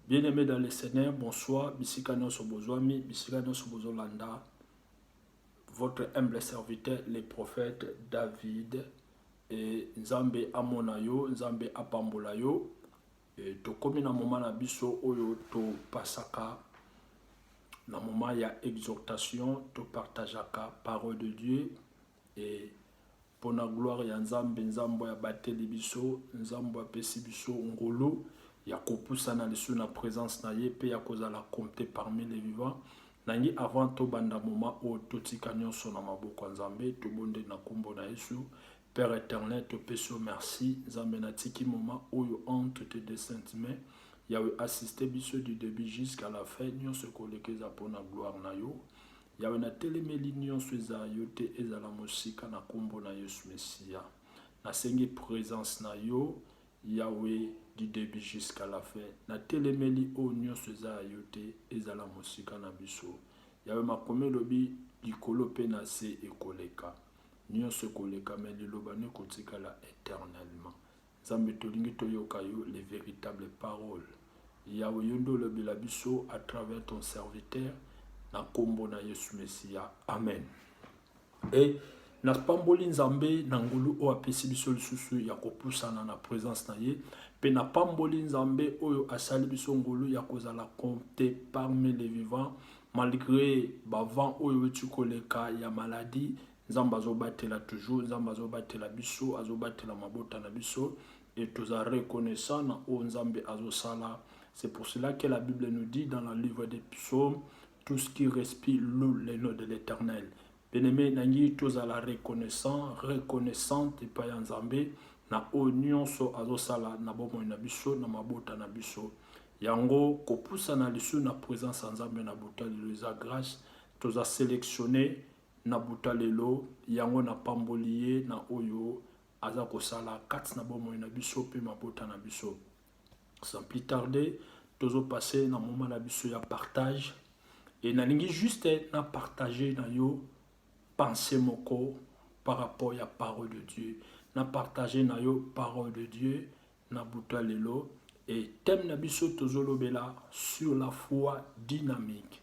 Bien aimé dans le Seigneur, bonsoir. Bisika nyoso bozwami, bisika nyoso bozolanda. Votre humble serviteur, le prophète David. Et Nzambe amona yo, Nzambe apambola yo. Et tokomi na moment na biso oyo to pasaka na moment ya exhortation, to partageaka parole de Dieu. Et pona gloire ya nzambe nzambo ya bateli biso nzambo ya pesi biso ngolu ya kopusa na lisu na presence na ye pe ya kozala compte parmi les vivants na ngi avant to banda moma o totika nionso na maboko ya nzambe to bonde na kombo na yesu père eternel to pesi o merci nzambe na tiki moma oyo entre te de sainte main yawe assiste biso du debut jusqu'à la fin nionso kolekeza pona gloire na yo Yawe na telemeli nionso eza yo te ezala mosika na kombo na yesu mesiya na sengi presence na yo yawe du debut jusqu'à la fin na telemeli oyo nionso eza ya yo te ezala mosika na biso yawe makomi elobi likolo pe na se ekoleka nionso ekoleka mais liloba no ekotikala eternellement Nzambe tolingi toyoka yo le veritable parole Yahweh yo nde olobela biso à travers ton serviteur na kombo na Yesu Mesia amen et napamboli Nzambe na ngolu oyo apesi biso lisusu ya kopusana na presence na ye mpe napamboli Nzambe oyo asali biso ngolu ya kozala compte parmi les vivants malgré bavant oyo euti koleka ya maladie Nzambe azobatela toujours, Nzambe azobatela biso, azobatela mabota na biso et toza reconnaissant na oyo Nzambe azosala. C'est pour cela que la Bible nous dit dans le livre des psaumes, tout ce qui respire loue le nom de l'Éternel. Bien-aimé, nangi tozala reconnaissant, reconnaissante epai ya Nzambe na oyo nyonso azosala na bomoi na biso, na mabota na biso. Yango kopusana lisusu na présence ya Nzambe na botalelo eza grâce, toza sélectionné Na botalelo yango, napamboli ye na oyo aza kosala kati na bomoi na biso pe mabota na biso. Sans plus tarder, tozo passer na moment na biso ya partage et nalingi juste na partager na yo pensee moko par rapport ya parole de Dieu. Na partager na yo parole de Dieu na butu ya lelo et thème na biso tozo lobela sur la foi dynamique.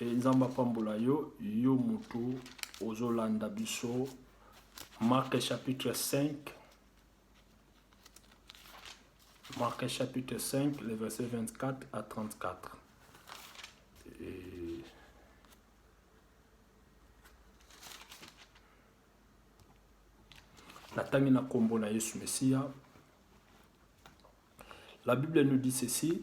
E Nzambe apambola yo, yo mutu ozolanda biso Marc chapitre 5 Marc chapitre 5 le verset 24 à 34 Et... natangi na nkombo na yesu mesiya la bible nous dit ceci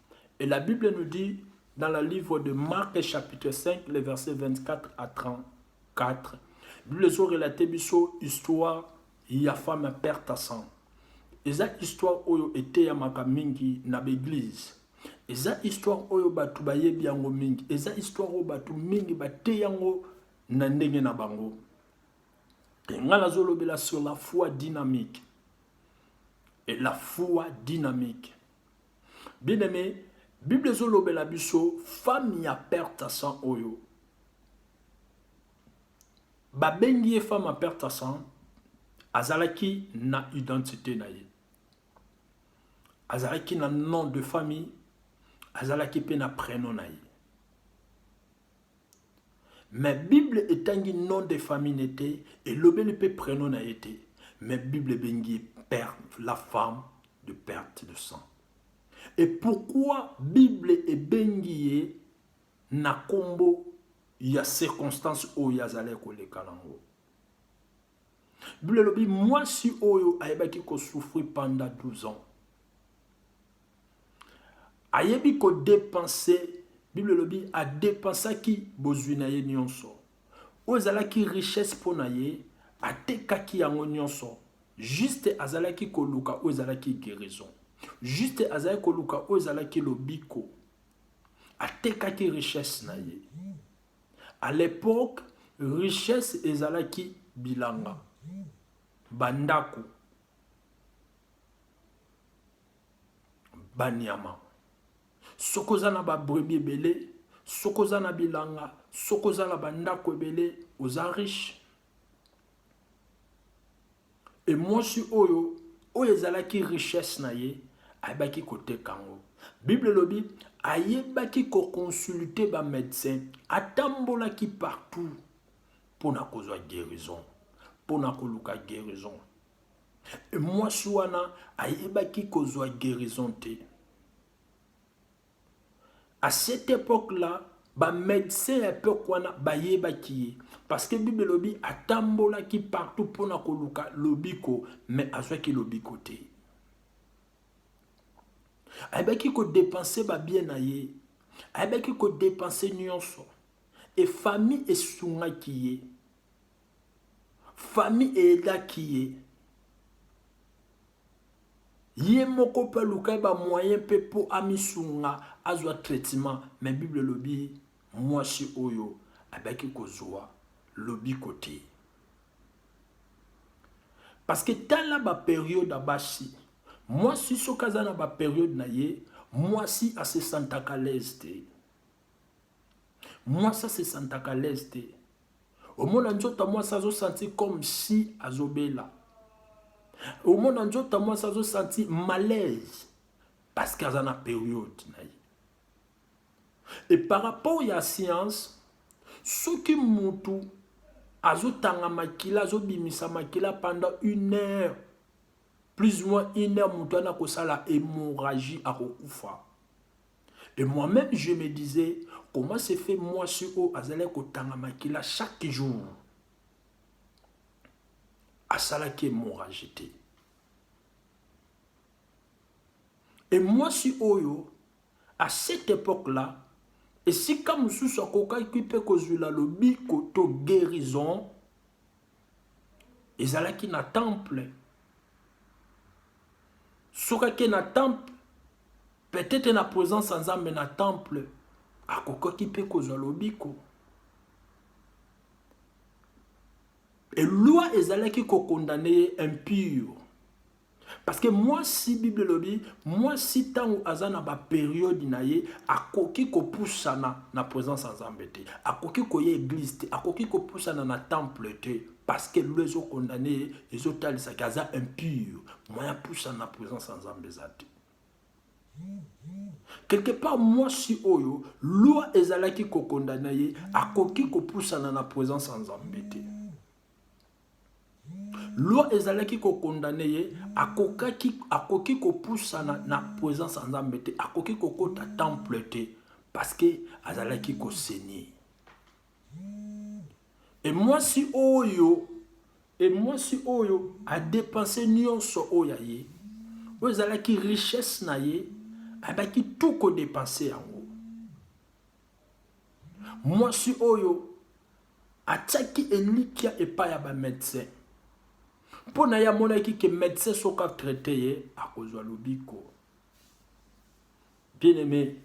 Et la Bible nous dit dans le livre de Marc chapitre 5 le verset 24 à 34 Bible ezo relate biso histoire ya femme ya père Tassan. Eza histoire oyo eteyamaka mingi na b'eglise. Eza histoire oyo bato bayebi yango mingi. Eza histoire oyo bato mingi bateyi yango na ndenge na bango. Nga nazolobela sur la foi dynamique. Et la foi dynamique. Bien aimé, Bible ezolobela biso femme ya perte sang oyo babengi ye femme ya perte sang azalaki na identité na ye azalaki na nom de famille azalaki mpe na prénom na ye Mais bible etangi nom de famille ne te, elobeli pe prenom na ye te, mais bible ebengi ye perte la femme de perte de sang. Et pourquoi bible ebengi ye na kombo ya circonstance oyo azalaki koleka nango? Bible elobi mwasi oyo ayebaki ko souffrir pendant 12 ans. Ayebi ko depenser, Bible elobi a depensaki bozwi na ye nionso. Oyo ezalaki richesse mpo na ye, atekaki yango nionso. Juste azalaki koluka oyo ezalaki guerison. Juste azalaki koluka oyo ezalaki lobiko. Atekaki richesse na ye. À l'époque, richesse ezalaki bilanga, bandako. banyama soki oza na babrebi ebele soki oza na bilanga soki oza na bandako ebele oza riche e mwasi oyo oyo ezalaki richesse na ye ayebaki koteka yango bible elobi ayebaki koconsulte bamédecin atambolaki partout mpo na kozwa guérison mpo na koluka guérison Mwasi wana ayebaki kozwa guérison te. À cette époque-là, ba médecins ya époque wana bayebaki ye parce que Bible elobi atambolaki partout mpona koluka lobiko mais azwaki lobiko te. Ayebaki ko dépenser ba bien na ye, ayebaki ko dépenser nyonso et famille esungaki ye. famille eyedaki ye ye moko mpe aluka ye bamoyen mpe mpo amisunga azwa traitement me bible elobi mwasi oyo abaki kozwa lobiko te parce que tala baperiode ya basi mwasi soki aza na baperiode na ye mwasi asesantaka lese te mwasi asesantaka lese te omona nzoto ya mwasi azosanti comme si azobela omona nzoto ya mwasi azosanti malaise parce que aza na periode na ye e par rapport ya science soki mutu azotanga makila azobimisa makila pendant une heure plus ou moins une heure moto wana akosala hémorragie akokufa Et moi meme je me disais comment se fait mwasi oyo azalaki kotanga makila chaque jour asalaki hemorragie te et mwasi oyo à cette époque là esika mosusu akokaki mpe kozwila lobiko to guérison ezalaki na temple soki ake na temple peut-être na présence ya nzambe na temple akokaki mpe kozwa lobiko eloi ezalaki kokondane ye impure Parce que mwasi Bible elobi mwasi ntango aza na ba periode na ye akoki kopusana na présence ya Nzambe te, akoki koya eglise te, akoki kopusana na temple te parce que lelo ezo condamne ye ezotalisa ke aza impur, moyen apusana na présence ya Nzambe eza te. Quelque part mwasi oyo loi ezalaki kokondana ye akoki kopusana na présence ya Nzambe te. loi ezalaki kokondane ye akokaki akoki kopusana na presence ya nzambe te akoki kokota temple te parceke azalaki kosenir emwasi oyo emwasi oyo adepense nyonso oyo ya ye oyo ezalaki richesse na ye abaki tu kodepense yango mwasi oyo Atiaki elikya epai ya ba medecins mpo na ye, amonaki ke medecin soki a traiter ye akozwa lobiko. Bien aime,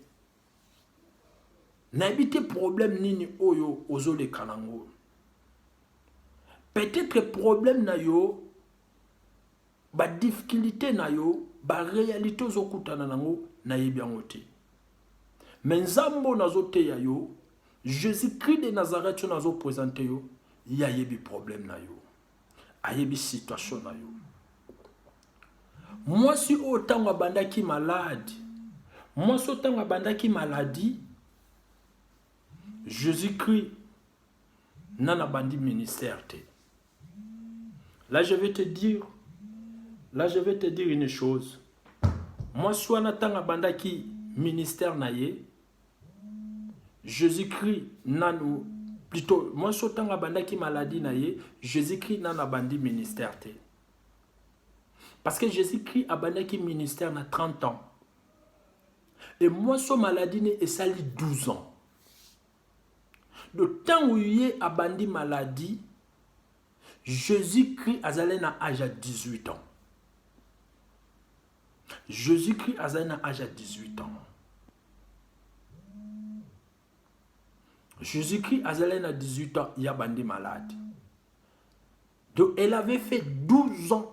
nayebi te problème nini oyo ozoleka nango. Peut-être problème na yo Ba difficultes na yo, ba realites ozo kutana na ngo, na yebi yango te. Mais Nzambe oyo nazo teya yo, Jesus Christ de Nazareth oyo nazo presenter yo, ye ayebi problème na yo. Ayebi situation na yo. Mwasi oyo tango abandaki malade, mwasi oyo tango abandaki maladie, Jesus Christ nana bandi ministère te. Là je vais te dire, là je vais te dire une chose. Moi suana tanga bandaki ministère na ye, Jésus-Christ nanu plutôt moi so tanga bandaki maladie na ye, Jésus-Christ nanu abandi ministère te. Parce que Jésus-Christ abandaki ministère na 30 ans. Et moi so maladie ne esali 12 ans. Donc tangu ye abandi maladie Jesus Christ azali na age ya 18 ans. Jesus Christ azali na age ya 18 ans. Jesus Christ azali na 18 ans ya bandi malade. Donc elle avait fait 12 ans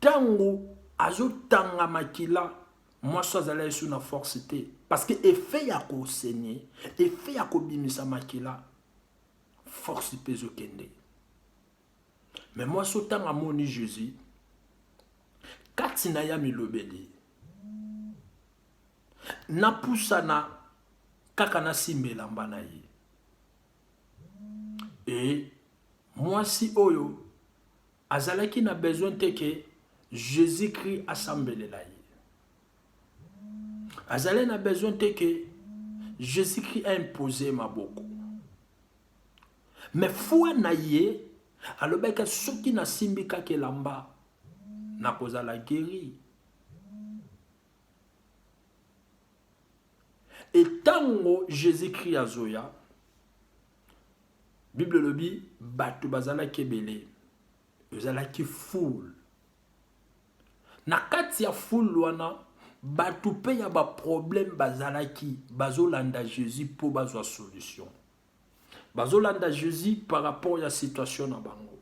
Tango azo tanga makila mwasi azala lisusu na force te parce que effet ya ko saigne effet ya ko bimisa makila force pe ezo kende mais mwasi otanga amoni Jésus kati na ya milobeli napusana kaka nasimba elamba na ye Et mwasi oyo azalaki na besoin te que Jésus-Christ asambelela ye. Azalaki na besoin te que Jésus-Christ a imposé maboko. Mais foi na ye alobaki soki nasimbi kaka elamba nakozala guéri. e ntango jesus christ azoya bible elobi bato bazalaki ebele ezalaki foule na kati ya foule wana bato mpe ya baproblème bazalaki bazolanda jesus mpo bazwa solution bazolanda jesus par rapport ya situation na bango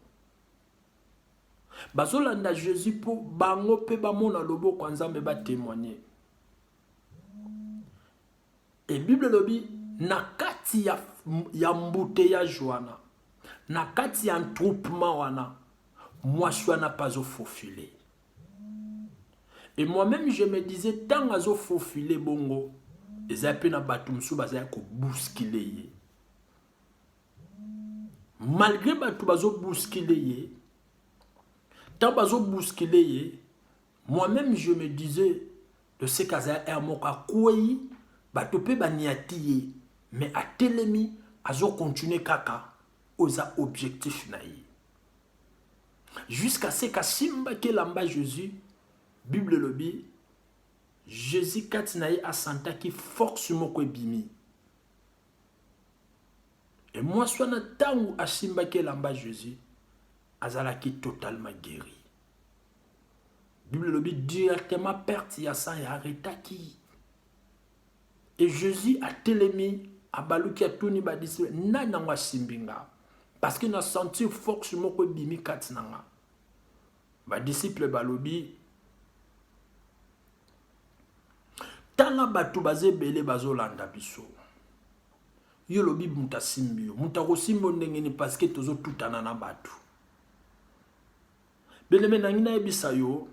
bazolanda jesus mpo bango mpe bamona loboko ya nzambe batemoigne Et Bible elobi na kati ya, ya embouteillage wana, na kati ya entroupement wana, mwasi wana mpe azo faufile. Et moi-même je me disais ntango azo faufile bongo, eza mpe na bato mosusu bazali kobuskile ye. Malgre bato bazo buskile ye, ntango bazo buskile ye, Moi meme je me disais de ce qu'aza heure moko akweyi bato mpe baniati ye mais atelemi azo continuer kaka oyo eza objectif na ye jusqu'à ce kasimbaki elamba Jésus Bible elobi Jésus kati na ye asantaki force moko ebimi e mwasi wana ntango asimbaki elamba Jésus azalaki totalement guéri Bible elobi directement perte ya sang ya aretaki e Jésus atelemi abaluki atuni badisiple nani yango asimbi nga parce que na sentir force moko ebimi kati na nga badisiple balobi tala bato baza ebele bazolanda biso yo olobi moto asimbi yo moto akosimbi yo ndenge nini parce que tozotutana na bato Beleme nangi nayebisa yo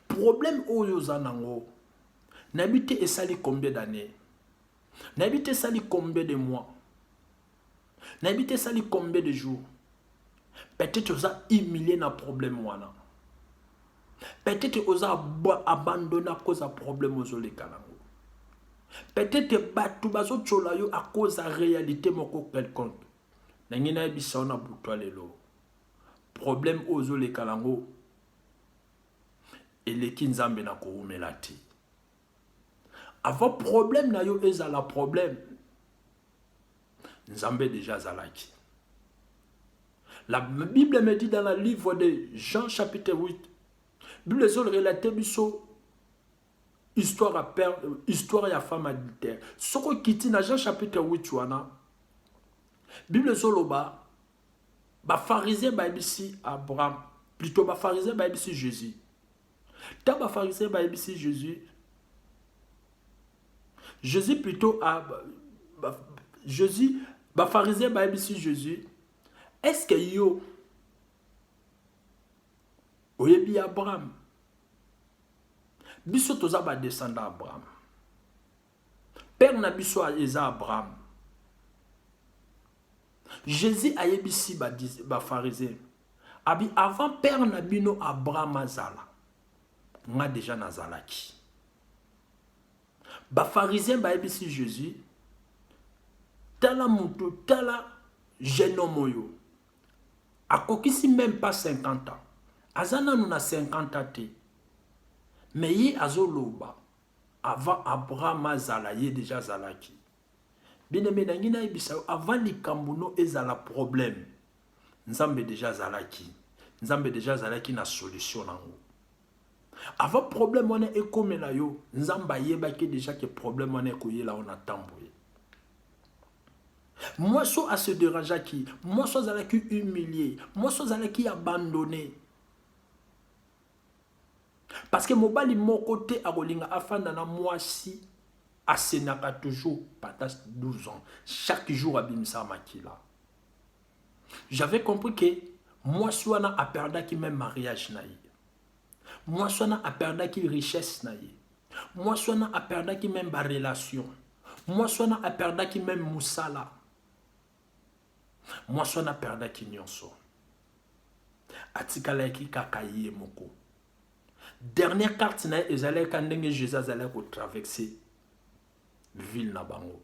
problème oyo oza nango nayebi te esali combien d'année nayebi te esali combien de mois nayebi te esali combien de jours peut-être oza humilie na problème wana peut-être oza abandonne à cause ya problème ozoleka nango peut-être bato bazotyola yo à cause ya réalité moko quelconque nangi nayebisa yo na butu ya lelo problème oyo ozoleka nango eleki nzambe na kowumela te avant problème na yo ezala problème nzambe deja azalaki la bible me dit dans le livre de jean chapitre 8 bible ezolrelate biso histoire ya père histoire ya femme adultère soko okiti na jean chapitre 8 wana bible ezoloba Bafarizien bayebisi Abraham, plutôt bafarizien bayebisi Jésus. Ntango bafarizien bayebisi Jésus, Jésus plutôt a, ba, Jésus, bafarizien bayebisi Jésus, est-ce que yo oyebi Abraham? Biso toza ba descendant Abraham. Père na biso eza Abraham. Jésus ayebisi ba, ba pharisiens. Abi avant père na bino Abraham azala. Nga déjà nazalaki. Ba pharisiens bayebisi Jésus tala mutu tala jeune homme oyo akokisi même pas 50 ans aza nanu na 50 ans te mais ye azoloba Avant Abraham azala ye dejà azalaki. Bien-aime nangi nayebisa yo avant likambo no ezala problème Nzambe dejà azalaki. Nzambe dejà azalaki na solution nango. Avant problème wana ekomela yo, Nzambe ayebaki dejà que problème wana ekoyela yo na temps boye. Mwasi oyo ase derangeaki, mwasi oyo azalaki humilie, mwasi oyo azalaki abandonne. Parce que mobali moko te akolinga afanda na mwasi asenaka toujours patas 12 ans chaque jour abimisa makila j'avais compris que mwasi wana aperdaki même mariage na ye mwasi wana aperdaki richesse na ye mwasi wana aperdaki même barelation mwasi wana aperdaki même mosala Mwasi wana aperdaki nyonso, atikalaki kaka ye moko. Dernière carte na ye ezalaki ka ndenge Jesus azalaki kotraverse ville na bango,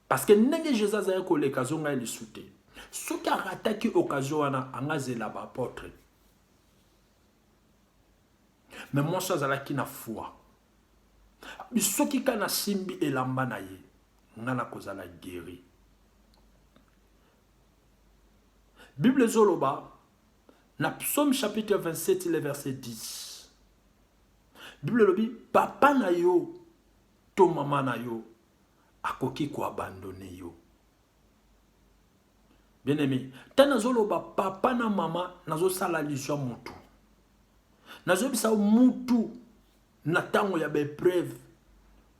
parce que ndenge Jesus azalaki koleka azonga ye lisu te. Soki arataki occasion wana, angazela baapotre. Mais mwasi azalaki na foi. soki ka nasimbi elamba na ye nga nakozala gueri bible ezoloba na psaume chapitre 27 le verset 10 bible elobi papa na yo to mama na yo akoki koabandone yo bien aimé ntango nazoloba papa na mama nazosala allusion ya motu nazoyebisa mutu na ntango ya baepreuve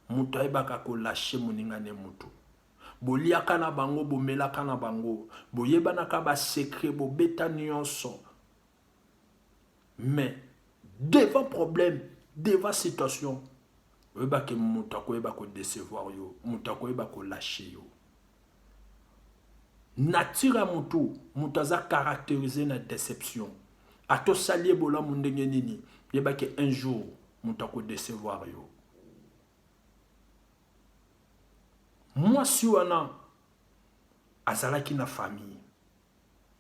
moto ayebaka kolashe moninga ne motu boliaka na bango bomelaka na bango boyebanaka basekre bobeta nyonso mais devant problème devant situation oyeba ke moto akoyeba kodecevoir yo moto akoyeba kolashe yo nature ya motu moto aza caractérise na déception ata osali ye bolamu ndenge nini yeba ke un jour moto akodecevoir yo mwasi wana azalaki na famille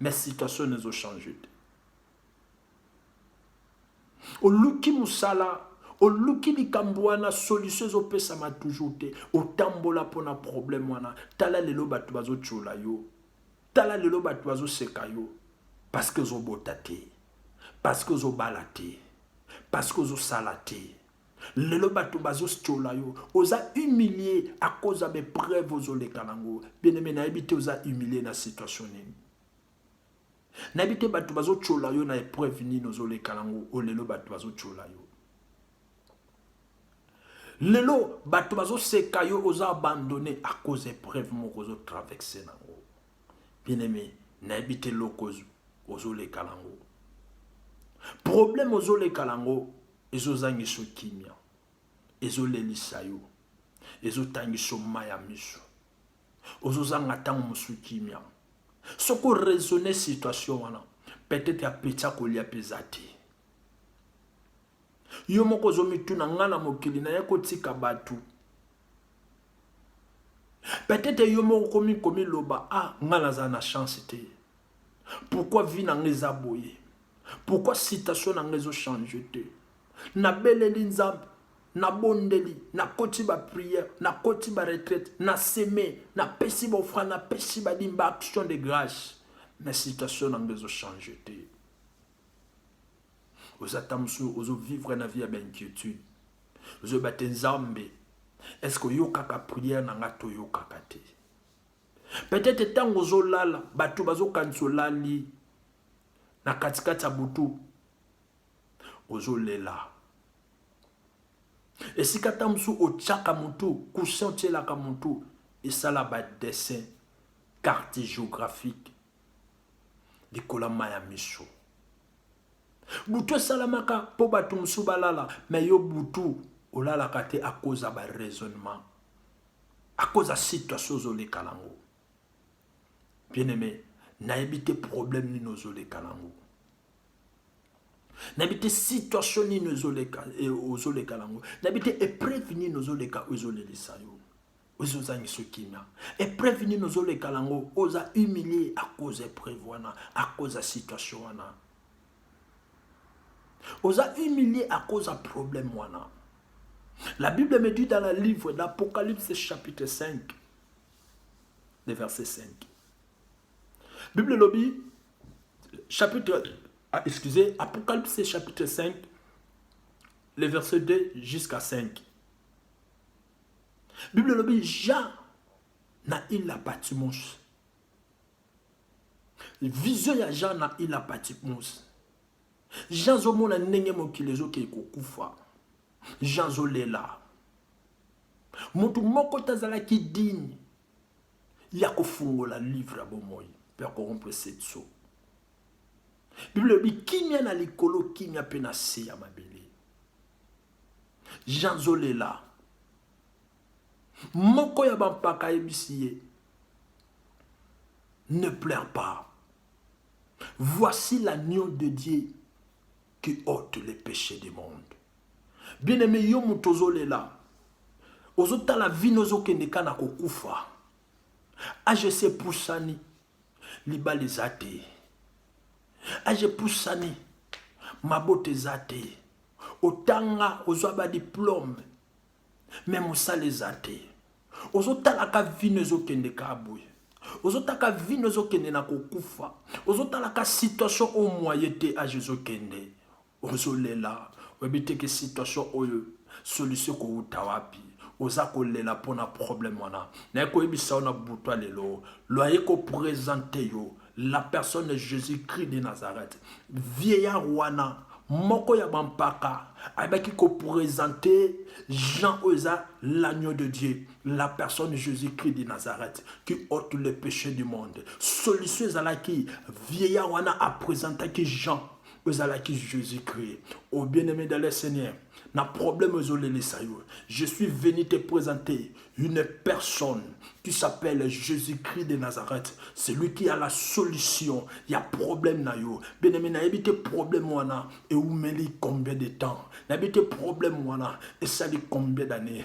Mais situation ezo changer te. Oluki musala, oluki likambo wana solution ezo pesama toujours te. Otambola pona problème wana. Tala lelo bato bazo tchola yo. Tala lelo bato bazo seka yo. Parce que ozo bota te. Parce que ozo bala te. Parce que ozo sala te. Lelo batu bazo stiola yo, oza humilie à cause ya ba preuve ozo leka nango. Bien aime nayebi te oza humilie na situation nini. Nayebi te batu bazo tiola yo na epreuve nini ozo leka nango, o lelo batu bazo tiola yo. Lelo batu bazo seka yo oza abandonne à cause epreuve moko ozo traverser nango. Bien aime nayebi te loko ozo leka nango. Problème ozo leka nango ezozangisa yo kimia ezolelisa yo ezotangisa yo mai ya miso ozozanga ntango mosusu kimia soki oraisonne situation wana peut-être apeti akolia mpe eza te yo moko ozomituna ngai na mokili naye kotika bato peut-être yo moko komi komiloba ah ngai naza na chance te Pourquoi vie na nga eza boye? Pourquoi situation na nga ezo changer te? Nabeleli Nzambe, nabondeli, nakoti ba prière, nakoti ba retraite, na seme, napesi ba offrande, napesi ba dime, ba action de grâce. Mais situation na nga ezo changer te. Oza ta mosusu ozo vivre na vie ya ba inquiétude. Ozo ba te Nzambe, est-ce que oyokaka prière na nga to oyokaka te? Peut-etre tango ozo lala batu bazo kanisa olali na kati kati ya butu ozo lela. Esika ta musu otiaka mutu coussin otielaka mutu esala ba dessin carte geographique likolo ya maya misu. Butu esalamaka po batu musu balala mais yo butu olalaka te akoza ba raisonnement. à cause ya situation ozoleka nango bien aimé nayebi te problème nini ozoleka nango nayebi te situation nini ozoleka eh, ozoleka nango nayebi te epreuve nini ozoleka oyo ezolelisa yo oyo ozangisa kimia epreuve nini ozoleka nango oza humilie à cause ya epreuve wana à cause ya situation wana Oza humilie à cause ya problème wana. La Bible me dit dans le livre d'Apocalypse chapitre 5, le verset 5. Bible lobby, chapitre, ah, excusez, Apocalypse chapitre 5, le verset 2 jusqu'à 5. Bible lobby, Jean na il la Patmos. vision ya jean na ila patipmus jean azomona ndenge mokili ezokei kokufa jean azolela moto moko te azalaki digne ya kofungola livre ya bomoi mpe ya korompre setso biblia elobi kimia na likolo kimia mpe na se ya mabele jean azolela Moko ya bampaka ayebisi ye, Ne pleure pas. Voici l'agneau de Dieu qui ôte les péchés du monde. Bien aimé, yo moto ozolela, ozotala vino ozokende ka na kokufa. Age se pusani, libala eza te. Age pusani, mabota eza te. Otanga, ozwa ba diplome, mais mosala eza te ozotalaka vino ezokende ka boye ozotaka vino ezokende na kokufa ozotalaka situation oyo moye te age ezokende ozolela oyebi teke situation oyo solution kowuta wapi oza kolela mpo na problème wana naye koyebisa yo na butwa lelo loye kopresente yo la personne de jésus christ de nazareth vieillard wana moko ya bampaka ayebaki kopresente jean oyo eza l'agneau de dieu la personne jésus christ de nazareth qui ôte le péché du monde solution ezalaki vieillard wana apresentaki jean oyo ezalaki jésus christ au bien aimé dans le seigneur na problème oyo ezolelisa yo je suis venu te présenter une personne qui s'appelle jésus-christ de nazareth celui qui a la solution ya problème na yo benemi nayebi te problème wana eumeli combien de temps nayebi te problème wana esali combien d'année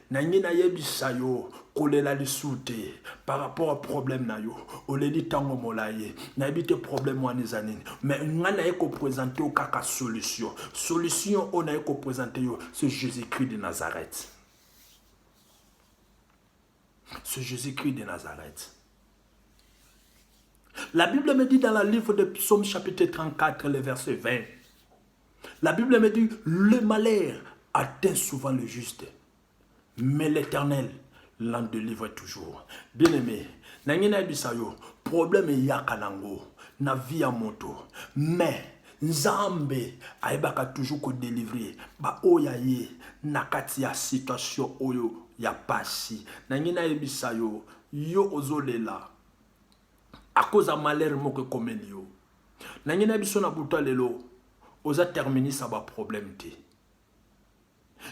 nangi nayebisa yo kolela lisu te par rapport ya problème na yo oleli ntango molayi nayebi te problème wana eza nini mais ngai naye kopresente yo kaka solution solution oyo naye kopresente yo c'est jésus christ de nazareth c'est jésus christ de nazareth la bible me dit dans la livre de psaume chapitre 34 le verset 20 La Bible me dit, le malheur atteint souvent le juste, mais l'Éternel l'en délivre toujours. Bien-aimé, nangi nayebisa yo problème eyaka nango na vie ya moto mais nzambe ayebaka toujours kodelivre baoyo ya ye na kati ya situation oyo ya pasi nangi nayebisa yo yo ozolela akoza malere moko ekomeli yo Nange na biso na buta lelo oza terminus ya ba problème te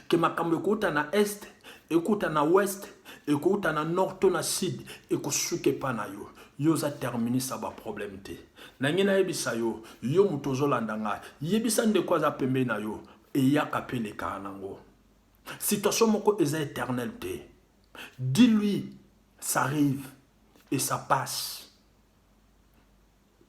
ke makambo ekouta na est ekouta na ouest ekouta na nord to na sud ekosuka epa na yo yo oza terminus ya ba problème te nange nayebisa yo yo moto ozolanda ngai yebisa ndeko aza pembeni na yo eyaka mpe elekaa nango situation moko eza éternel te dis lui ça arrive et ça passe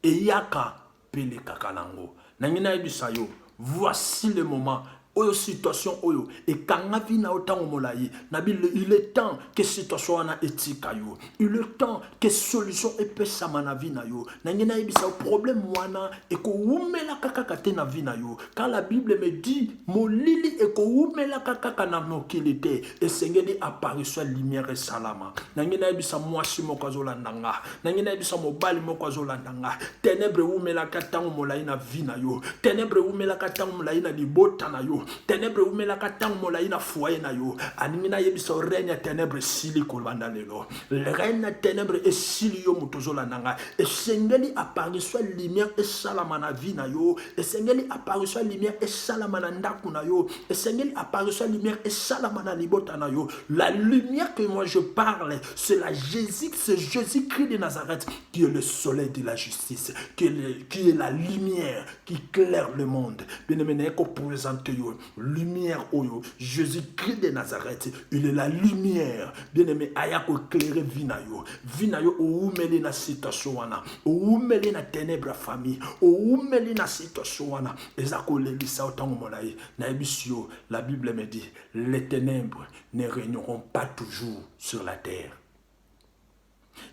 Eyaka pe elekaka nango. Nangi nayebisa yo voici le moment oyo situation oyo ekanga vie na yo tango molayi na bi il est temps que situation wana etika yo il est temps que solution epesama na vie na yo nangi nayebisa yo problème wana ekowumelaka kaka te na vie na yo car la bible me dit molili ekowumelaka kaka na mokili te esengeli apparition ya lumière esalama nangi nayebisa mwasi moko azolanda nga nangi nayebi sa mobali moko azolanda nga tenebre ewumelaka ntango molai na vi na yo tenebre ewumelaka ntango molai na libota na yo tenebre ewumelaka ntango molai na foye na yo alingi nayebisa yo reine ya tenebre esili kolanda lelo reine ya tenebre esili yo moto ozolanda nga esengeli apparition ya lumière esalama na vi na yo esengeli apparition ya lumière esalama na ndako na yo esengeli apparition ya lumière esalama na libota na yo la lumière que moi je parle C'est la Jésus, c'est Jésus-Christ de Nazareth qui est le soleil de la justice, qui est, le, qui est la lumière qui claire le monde. Bien-aimé, n'est qu'au présenter lumière oyo, Jésus-Christ de Nazareth, il est la lumière. Bien-aimé, aya ko éclairer vinayo, vinayo oumeli na situation wana, oumeli na ténèbres famille, oumeli na situation wana, ezako lelisa otango molayi, na ebisio, la Bible me dit, les ténèbres ne régneront pas toujours sur la terre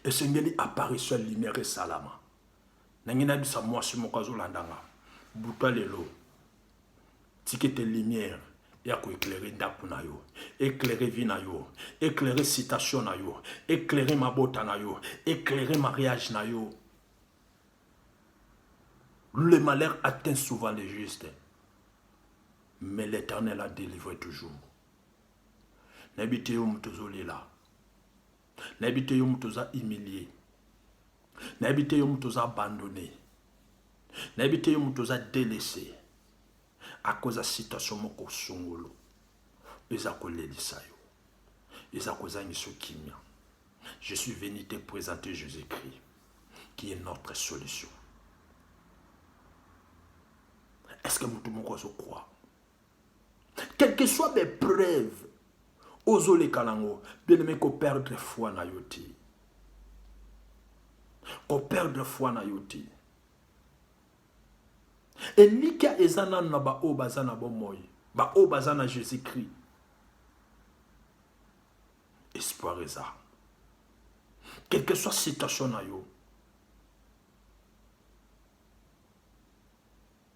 esengeli apparition ya lumière esalama nange nayebisa mwasi moko azolanda nga buta lelo tikete lumière ya koeklere ndako na yo eklere vi na yo eklere citation na yo eklere mabota na yo eklere mariage na yo le malheur atteint souvent le juste mais l'éternel a délivré toujours nayebi te yo moto ozolela nayebi te yo moto oza humilie nayebi te yo moto oza abandone nayebi te yo moto oza delese akoza situation moko songolo eza kolelisa yo eza kozangisa kimia je suis venu te présenter jésus-christ qui est notre solution est ce que moto moko azokwaa Quel que soit mes preuves, ozoleka nango, bien aimé ko perdre foi na yo te. Ko perdre foi na yo te. Elikya eza nanu na baoyo baza na bomoi, baoyo baza na Jésus-Christ. Espoir eza. Quel que soit situation na yo,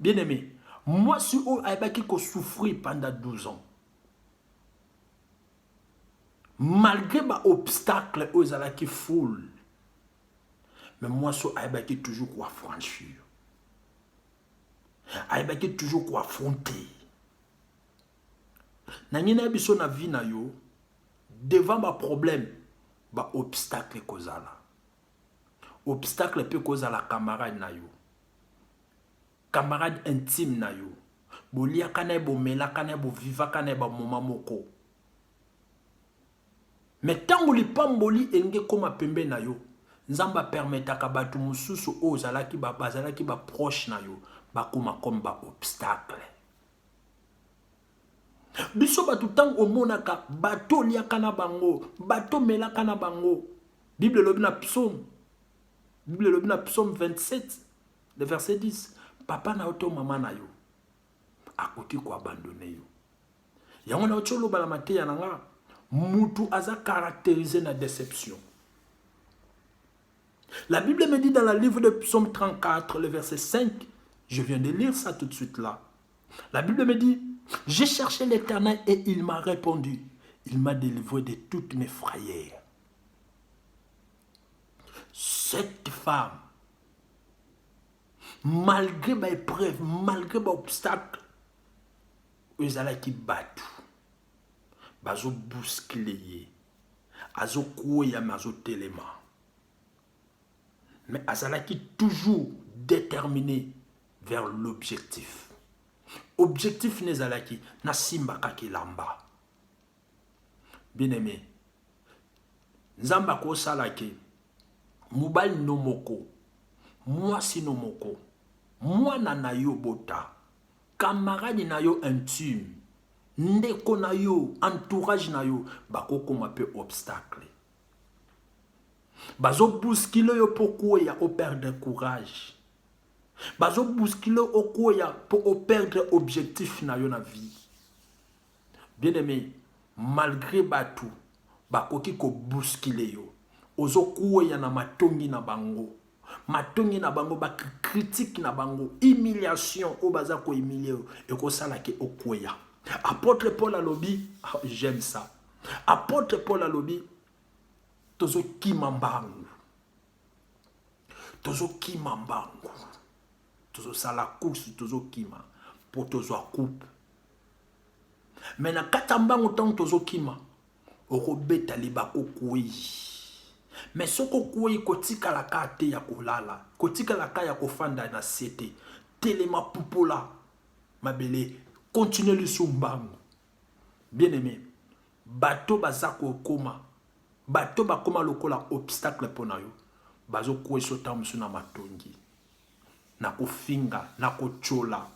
Bien aimé, mwasi oyo ayebaki ko souffrir pendant 12 ans. Malgré ba obstacles oyo ezalaki full. Mais mwasi oyo ayebaki toujours ko affranchir. Ayebaki toujours ko affronter. Na ngina ya biso na vie na yo devant ba problèmes, ba obstacles kozala. Obstacle pe kozala camarade na yo. camarade intime na yo boliaka na ye bomelaka na ye bovivaka na ye bamoma moko me ntango lipamboli elingi ekóma pembe na yo nzambe apermetaka bato mosusu oyo ozalaki bazalaki baproche na yo bakóma comme baobstacle biso bato ntango omonaka bato oliaka na bango bato omelaka na bango bible elobi na psaume Biblia elobi na psaume 27 le verset 10 papa na yo to mama na yo akoki koabandone yo yango na oti oloba na mateya na nga mutu aza caractérisé na déception la bible me dit dans la livre de psaume 34 le verset 5 je viens de lire ça tout de suite là la bible me dit j'ai cherché l'éternel et il m'a répondu il m'a délivré de toutes mes frayères Cette femme, malgré ba épreuves, malgré ba obstacles, ezalaki batu bazo bousculer ye, azo kweya mais azo telema. Mais azalaki toujours déterminé vers l'objectif. Objectif n'ezalaki nasimbaka kilamba. Bien aime. Nzambe akosala ke mobali no moko, mwasi no moko, mwana na yo bota, camarade na yo intime, ndeko na yo, entourage na yo, bakokoma pe obstacle. Bazo bousculer yo po kweya o perdre courage. Bazo bousculer okweya po o perdre objectif na yo na vie. Bien aime, malgre batu bakoki ko bousculer yo, ozo kueya na matongi na bango. Matongi na bango, ba critique na bango, humiliation oyo baza ko humilier yo, ekosala ke okueya. Apotre Paul alobi, ah, j'aime ça. Apotre Paul alobi, tozo kima mbangu. Tozo kima mbangu. Tozo sala course, tozo kima. Po tozo coupe. me na kati ya mbango ntango tozokima okobeta libaku okwei me soki okwei kotikalaka te ya kolala kotikalaka ya kofanda na se te telema pupola mabele kontinue lisu mbango bien aime bato baza kokoma bato bakoma lokola obstacle mpo na yo bazokweiso ntango mosusu na matongi na kofinga na kotyola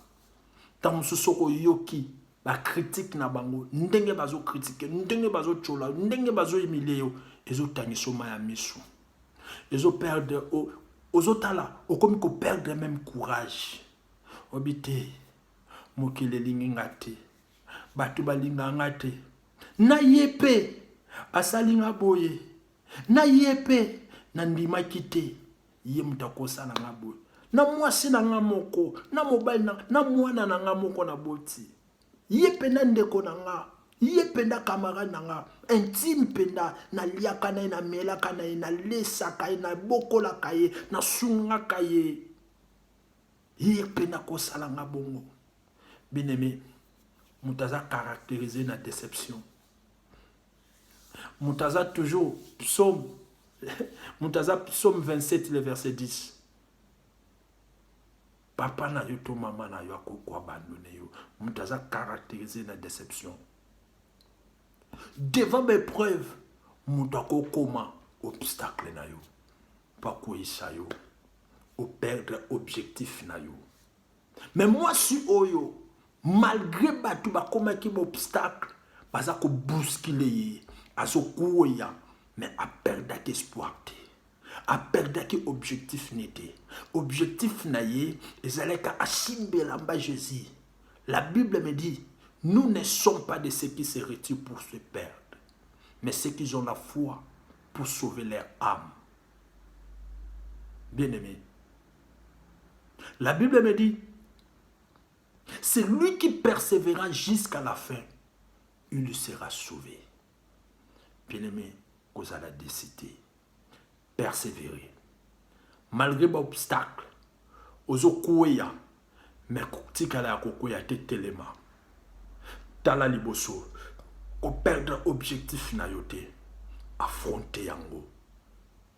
ntango mosusu oko oyoki bakritike na bango ndenge bazokritike ndenge bazotyola ndenge bazoyimilie yo ezotangisa oma ya miso ezoperdre ozotala okomi koperdre meme courage obi te mokili elingi nga te bato balinga nga te na ye mpe basali nga boye na ye mpe nandimaki te ye moto akosa na nga boye na mwasi na nga moko na mobali na, na mwana na nga moko naboti ye mpenza ndeko na nga ye mpenza camarade na nga intime mpenza naliaka na ye namelaka na ye nalesaka ye nabokolaka ye nasungaka ye ye mpe nakosala nga bongo bineme moto aza caractérise na déception moto aza toujours psaume moto aza psaume 27 le verset 10 papa na yo to mama na yo akoki koabandone yo moto aza caractérise na déception devant baepreuve moto akokoma obstacle na yo mpo akweyisa yo operdre objectif na yo Mais mwasi oyo malgré bato bakomaki baobstacle baza kobuskile ye azokueya mais aperdaki espoir te aperdaki objectif ne te objectif na ye ezalaki asimba elamba jésus la bible me dit nous ne sommes pas de ceux qui se retirent pour se perdre mais ceux qui ont la foi pour sauver leur âme bien aimé La Bible me dit, c'est lui qui persévéra jusqu'à la fin, il lui sera sauvé. Bien-aimé, vous allez décider, persévérer. Malgré vos obstacles, vous avez mais tikala ya kokwea te telema tala liboso koperdre objectif na yo te affronte yango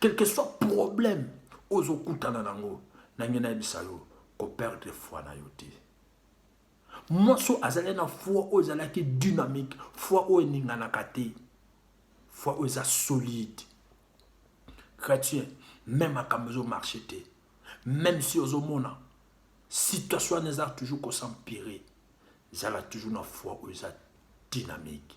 quelque soit problème ozokutana nango nange nayebisa yo koperdre foi na yo te mwasi oyo azali na foi oyo ezalaki dynamique foi oyo eninganaka te foi oyo eza solide chrétien meme makambo ezomarche te meme si ozomona situation wana eza toujours kosampire zala toujours na foi oyo eza dynamique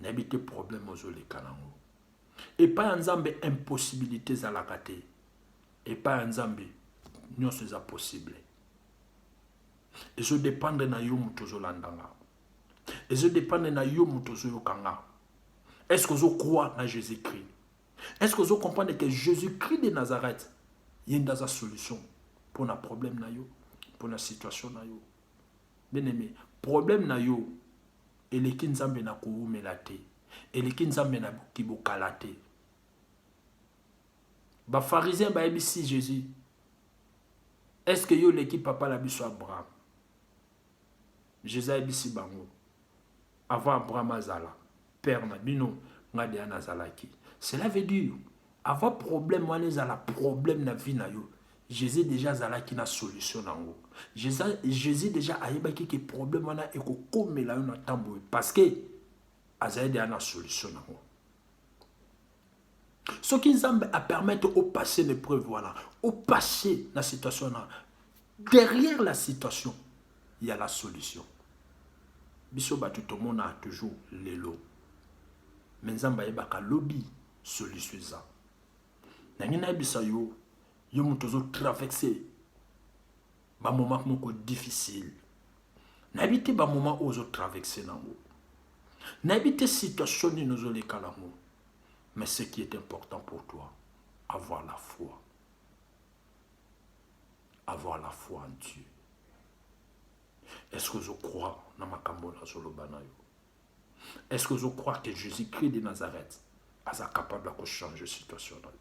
nayebi te problème ozoleka nango epai ya nzambe impossibilité ezalaka te epai ya nzambe nyonso eza possible ezodependre na yo moto ozolanda nga ezodependre na yo moto ozoyoka nga est ce que ozokwoi na jésus christ est ce que ozocomprendre ke jésus christ de nazareth ye nde aza solution mpo na problème na yo mpo na situation na yo bien aime problème na yo eleki nzambe na kowumela te eleki nzambe na kibokala te bafarisien bayebisi jésus est ce que yo oleki papa na biso abraham jésus ayebisi bango avant abraham azala père na bino nga deja nazalaki cela veut dire avant problème wana ezala problème na vie na yo jésus deja azalaki na solution nango jésus deja ayebaki ke problème wana ekokomela yo na ntan boye parce que azali deja na solution nango soki nzambe a permettre o passer na épreuve wana o passer na situation wana derrière la situation il y a la solution biso bato tomonaka toujours lelo me nzambe ayebaka lobi solution eza nangi nayebisa yo yo moto ozotraverse ba moment moko difficile nayebi te ba moment oyo ozo traverse nango nayebi te situation nini ozoleka nango mais ce qui est important pour toi avoir la foi avoir la foi en Dieu est ce que ozo croire na makambo nazoloba na yo est ce que ozo croire que Jésus Christ de Nazareth aza capable ya kochanger situation na yo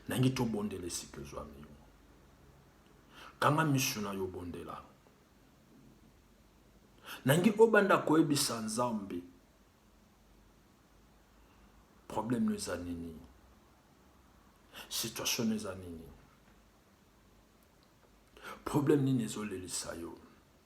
nangi tobondela esika ezwami yo kanga misu na yo bondela nangi obanda koyebisa nzambe problème no eza nini situation no eza nini problème nini ezolelisa yo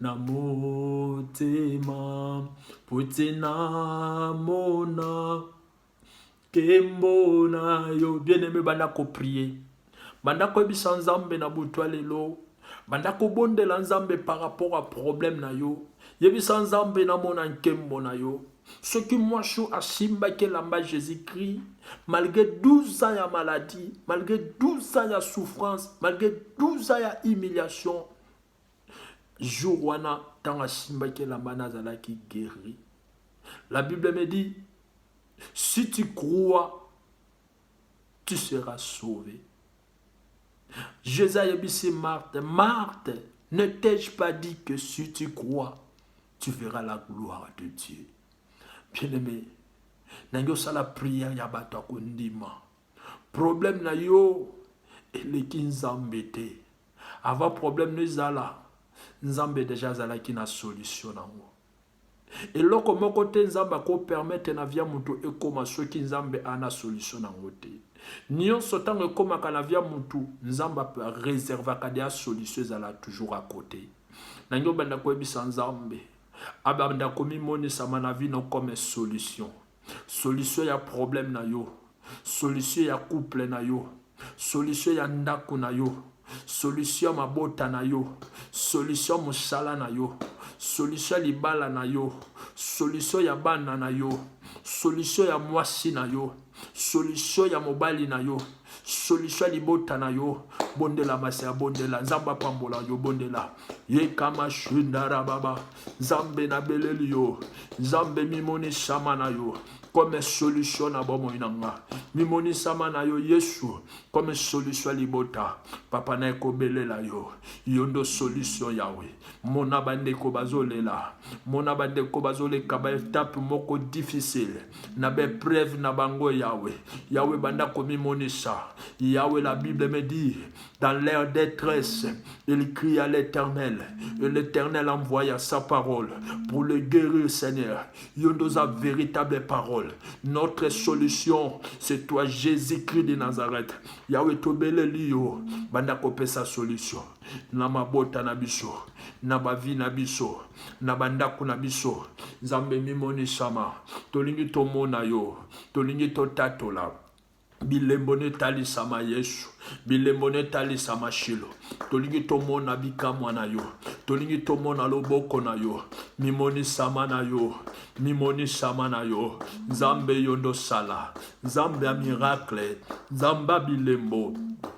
na motema mpo te namona nkembo na yo bien aime banda koprie banda koyebisa nzambe na butu ya lelo banda kobondela nzambe par rapport ya problème na yo yebisa nzambe namona nkembo na yo soki mwasi oyo asimbaki elamba jésus christ malgré 12 ans ya maladie malgré 12 ans ya souffrance malgré 12 ans ya humiliation jour wana ntango asimbaki elamba wana azalaki guéri la bible me dit si tu crois tu seras sauvé jésus ayebisi marthe marthe ne t'ai-je pas dit que si tu crois tu verras la gloire de dieu bien aimé nange osala prière ya bato ya kondima problème na yo eleki nzambe te Avant problème no ezala, Nzambe dejà azalaki na solution nango. Eloko moko te Nzambe ako permettre na via mutu ekoma soki Nzambe ana solution nango te. Nionso tango ekomaka na via mutu, Nzambe a reservaka deja solution ezala toujours à côté. Nange obanda koyebisa Nzambe, abanda komimonisa ma na vie no comme solution. solution ya problème na yo solution ya couple na yo solution ya ndako na yo solution ya mabota na yo solution ya mosala na yo solution ya libala na yo solution ya bana na yo solution ya mwasi na yo solution ya mobali na yo solution ya libota na yo bondela masi ya bondela nzambe apambola yo bondela yekama shundara baba nzambe nabeleli yo nzambe mimonisama na yo comme solution na bomoi na nga mimonisama na yo yesu comme solution ya libota papa na ekobelela yo yo ndo solution yawe mona bandeko bazolela mona bandeko bazoleka baetape moko difficile na baepreuve na bango yawe yawe banda komimonisa yawe la bible me dit dans leur détresse il crie à l'éternel et l'éternel envoya sa parole pour le guérir seigneur yo nde oza véritable parole notre solution c'est toi jésus christ de nazareth yawe tobeleli yo banda kopesa solution na mabota na biso na bavi na biso na bandako na biso nzambe mimonisama tolingi tomona yo tolingi totatola bilembo netalisama yesu bilembo netalisama shilo tolingi tomona bikamwa na yo tolingi tomona loboko na yo mimonisama na yo mimonisama na yo nzambe yo ndosala nzambe ya miracle nzambe ya bilembo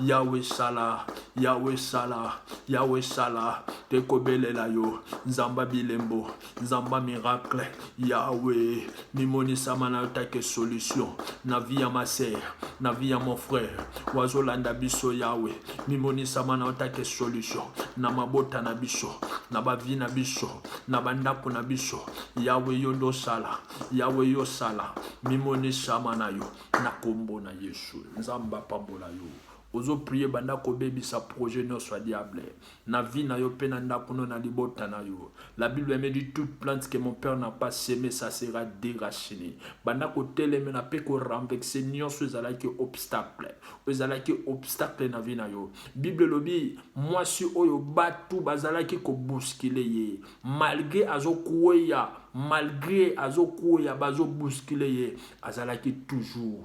yawe sala yawe sala yawe sala tokobelela yo nzamba bilembo nzamba miracle yawe mimonisama na yo take solution na vie ya ma sœur na vie ya mon frère wazolanda biso yawe mimonisama na yo take solution na mabota na biso na bavi na biso na bandako na biso yawe yo nde osala yawe yo osala mimonisama na yo na kombo na yesu nzambe apambola yo ozo prie banda kobebisa projet nyonso ya diable na vie na yo mpe na ndako no na libota na yo la bible me dit toute plante que mon père n'a pas seme ça sera déracine banda kotelemela mpe korenvexe nyonso ezalaki obstacle oyo ezalaki obstacle na vie na yo bible elobi mwasi oyo batu bazalaki kobuskile ye malgre azokweya malgre azokweya bazobuskile ye azalaki toujours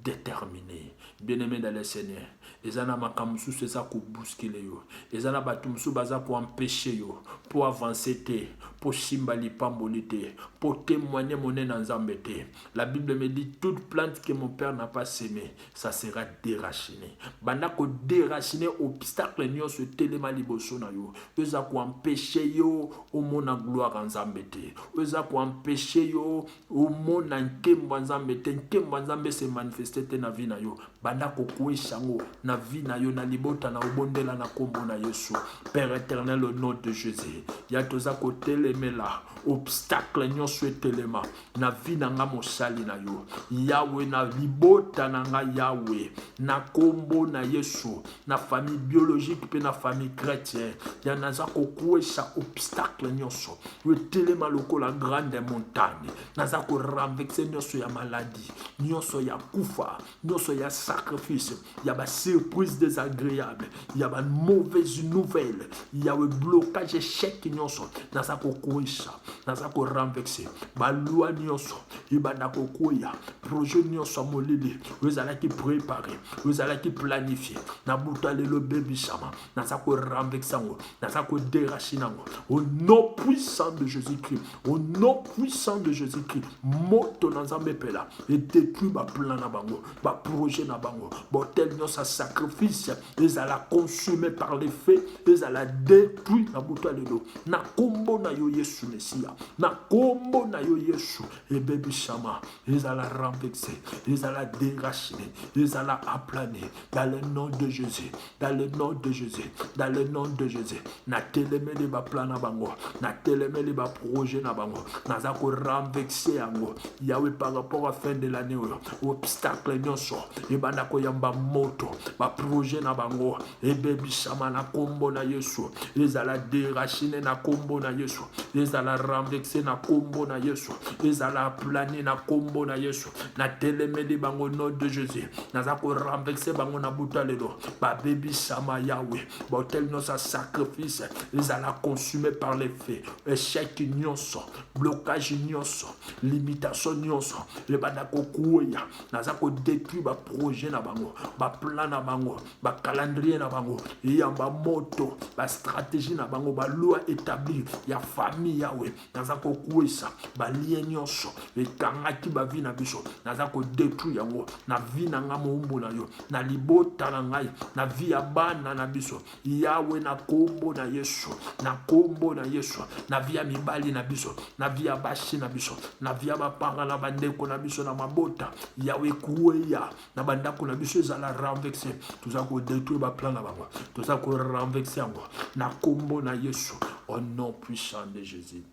determine bien aime dans le seigneur eza na makambo mosusu eza kobuskile yo eza na bato mosusu baza koempeshe yo mpo avanse te mpo simba lipamboli te mpo témoigne monene ya nzambe te la bible me dit toute plante que mon père n'a pas semé ça sera dérachine banda ko dérachine obstacle nyonso etelema liboso na yo oyo eza koempeshe yo omona gloire ya nzambe te oyo eza koempeshe yo omona nkembo ya nzambe te nkembo ya nzambe se manifeste te na vi na yo banda kokwesha yango na vi na yo na libota na obondela na nkombo na yesu père éternel au nom de jésus ya toza kotelemela obstacle nyonso etelema na vie na nga mosali na yo yawe na libota na nga yawe na kombo na yesu na famille biologique mpe na famille chrétien ya naza kokwesa obstacle nyonso yo etelema lokola grande montagne naza koranvexe nyonso ya maladi nyonso ya kufa nyonso ya sacrifice ya basurprise désagréable ya bamauvaise nouvelle ya blocage échec nyonso naza kokwisa naza korenvexe balwa nyonso ebanda kokwea projet nyonso ya molili oyo ezalaki prépare oyo ezalaki planifie na buta lelo ebebisama naza korenvexe yango naza koderachine yango au nom puissant de jésus christ Au nom puissant de Jésus-Christ, moto na Nzambe epela edetruit baplan na bango, baprojet na bango, botel nyonso ya sacrifice ezala consume par le feu, ezala detruit na butu ya lelo, na nkombo na yo Yesu Mesia, na nkombo na yo Yesu, ebebisama, ezala renvexe, ezala derachine, ezala aplane, dans le nom de Jésus, dans le nom de Jésus, dans le nom de Jésus, na telemeli ba plan na bango, na telemeli ba projet na bango, naza ko renverser yango. Yawe par rapport à fin de l'année oyo, obstacle nyonso ebanda ko yamba moto, ba projet na bango ebebisama na kombo na Yesu, ezala déraciner na kombo na Yesu, ezala renverser na kombo na Yesu, ezala planer na kombo na Yesu, natelemeli bango nom de jésus naza korenverse bango na buta lelo babebisama yawe bahotel nyonso ya sacrifice ezala consume par le feu échec nyonso blocage nyonso limitation nyonso ebanda kokueya naza kodétruire baprojet na bango baplan na bango bacalendrier na bango eyamba moto bastratégie na bango baloi établi ya famille yawe naza kokwesa balie nyonso ekangaki bavi na biso naza kodetruire yango na vi na ngai moumbu na yo na libota na ngai na vi ya bana na biso yawe na kombo na yesu na kombo na yesu na vi ya mibali na biso na vi ya basi na biso na vi ya bapanga na bandeko na biso na mabota yawe kueya na bandako na biso ezala renvexe toza kodetruire baplan na bango toza korenvexe yango na nkombo na yesu au nom puissant de jésus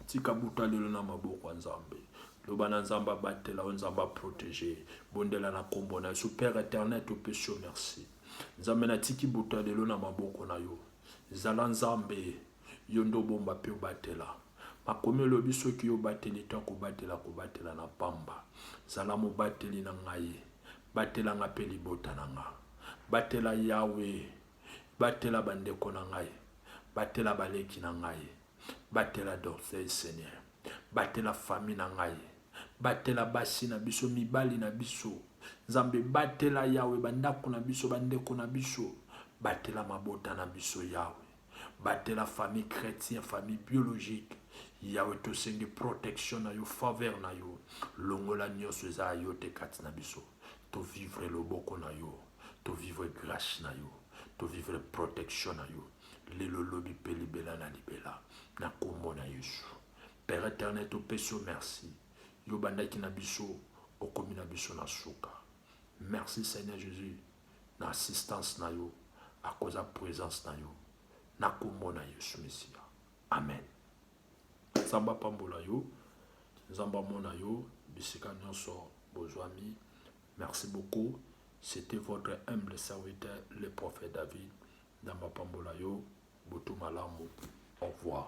tika buta lelo na maboko ya nzambe loba na nzambe abatela yo nzambe aprotege bondela na nkombo na yesu père éternel topesi yo merci nzambe natiki buta lelo na maboko na yo zala nzambe Yo nde obomba mpe obatela. Makomi elobi, Soki yo obateli te, akobatela, akobatela na pamba. Zala mobateli na ngai. Batela nga mpe libota na nga. Batela Yawe. Batela ba ndeko na ngai. Batela ba leki na ngai. Batela d'orgueil Seigneur. Batela famille na ngai. Batela basi na biso, mibali na biso. Nzambe batela Yawe ba ndako na biso, ba ndeko na biso. Batela mabota na biso Yawe. Batela famille chretien famille biologique Yahweh tosengi protection na yo faveur na yo longola nionso eza ya yo te kati na biso to vivre loboko na yo to vivre grace na yo to vivre protection na yo lelo lobi mpe libela na libela na kombo na Yesu Père éternel topesi yo merci yo bandaki na biso okomi na biso na suka merci Seigneur Jésus na assistance na yo akoza presence na yo na kombo na yesu mesiya amen nzambe apambola yo nzambe amona yo bisika nyonso bozwami merci beaucoup c'était votre humble serviteur le prophète david nzambe apambola yo butu malamu au revoir